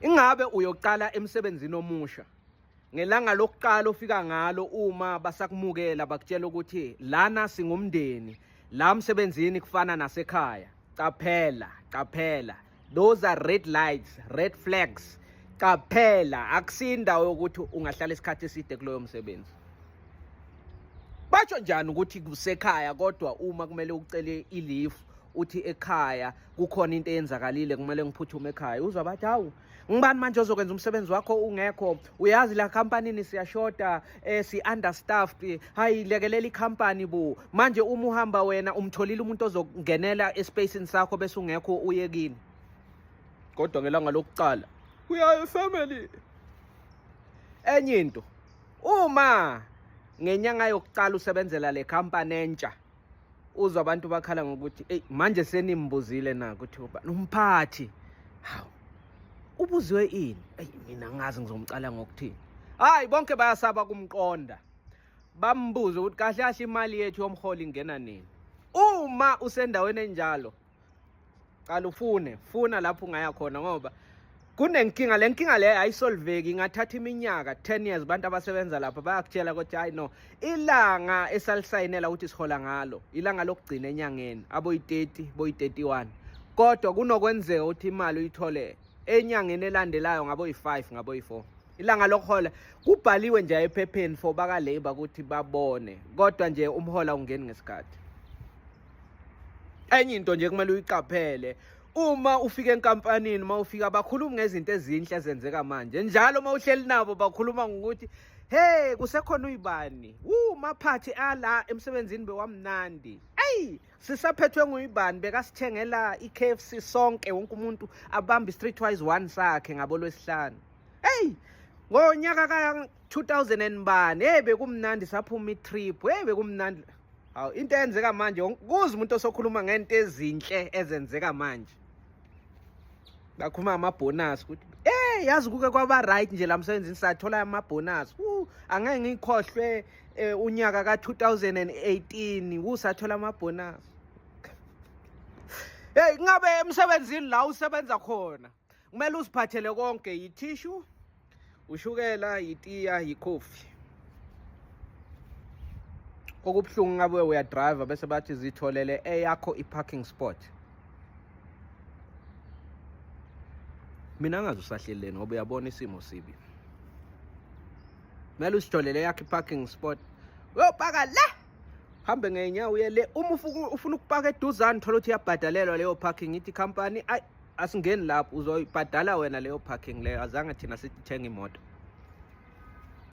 Ingabe uyoqala emsebenzini omusha? Ngelanga lokuqala ofika ngalo uma basakumukela bakutshela ukuthi lana singumndeni, la msebenzini kufana nasekhaya. Qaphela, qaphela. Those are red lights, red flags. Qaphela, akusindawo yokuthi ungahlala isikhathi eside kuloyo msebenzi. Basho njani ukuthi kusekhaya kodwa uma kumele ucele ilifu uthi ekhaya kukhona into eyenzakalile kumele ngiphuthume ekhaya uzwa bathi hawu ngibani manje ozokwenza umsebenzi wakho ungekho uyazi la kampanini siyashoda eh, si-understaffed hayi lekelela ikhampani bu manje uma uhamba wena umtholile umuntu ozongenela espacini sakho bese ungekho uye kini kodwa ngelanga lokuqala uyayo family enye into uma ngenyanga yokuqala usebenzela le company entsha uzwa abantu bakhala ngokuthi eyi manje senimbuzile na ukuthi ubani umphathi hawu ubuziwe ini eyi mina ngazi ngizomcala ngokuthini hayi bonke bayasaba kumqonda bambuze ukuthi kahle kahle imali yethu yomholi ingena nini uma usendaweni enjalo qala ufune funa lapho ungaya khona ngoba kunenkinga le nkinga leyo ayisolveki ingathatha iminyaka 10 years abantu abasebenza lapha bayakutshela ukuthi hayi no ilanga esalisayinela ukuthi sihola ngalo ilanga lokugcina enyangeni aboyi-30 boyi-31 kodwa kunokwenzeka ukuthi imali uyithole enyangeni elandelayo ngaboyi-5 ngaboyi-4 ilanga lokuhola kubhaliwe nje ephepheni for bakalabor ukuthi babone kodwa nje umhola ungeni ngesikhathi enye into nje kumele uyiqaphele uma ufika enkampanini uma ufika bakhuluma ngezinto ezinhle ezenzeka manje njalo uma uhleli nabo bakhuluma ngokuthi hey kusekhona uyibani wu maphathi ala emsebenzini bewamnandi eyi sisaphethwe nguyibani bekasithengela i-kfc sonke wonke umuntu abambe i-street wise one sakhe ngabo lwesihlanu eyi ngonyaka ka-2000 and bani hey bekumnandi saphuma i-trip hey bekumnandi Hawu into eyenzeka manje kuze umuntu osokhuluma ngento ezinhle ezenzeka manje. Bakhuluma ama bonus ukuthi eh yazi kuke kwaba right nje la msebenzini sathola ama bonus. Uh angeke ngikhohlwe eh, unyaka ka 2018 usathola ama bonus. Hey ngabe emsebenzini la usebenza khona. kumele uziphathele konke yithishu ushukela yitiya yikhofi okubuhlungu ngabe uyadriver bese bathi zitholele eyakho i-parking spot mina ngazi usahleleni ngoba uyabona isimo sibi kumele usitholele yakhe i-parking spot uyopaka la hambe ngenyawo uye le uma ufuna ukupaka eduzane thola ukuthi iyabhadalelwa leyo parking ithi company ayi asingeni lapho uzoyibhadala wena leyo parking leyo azange thina sithenge imoto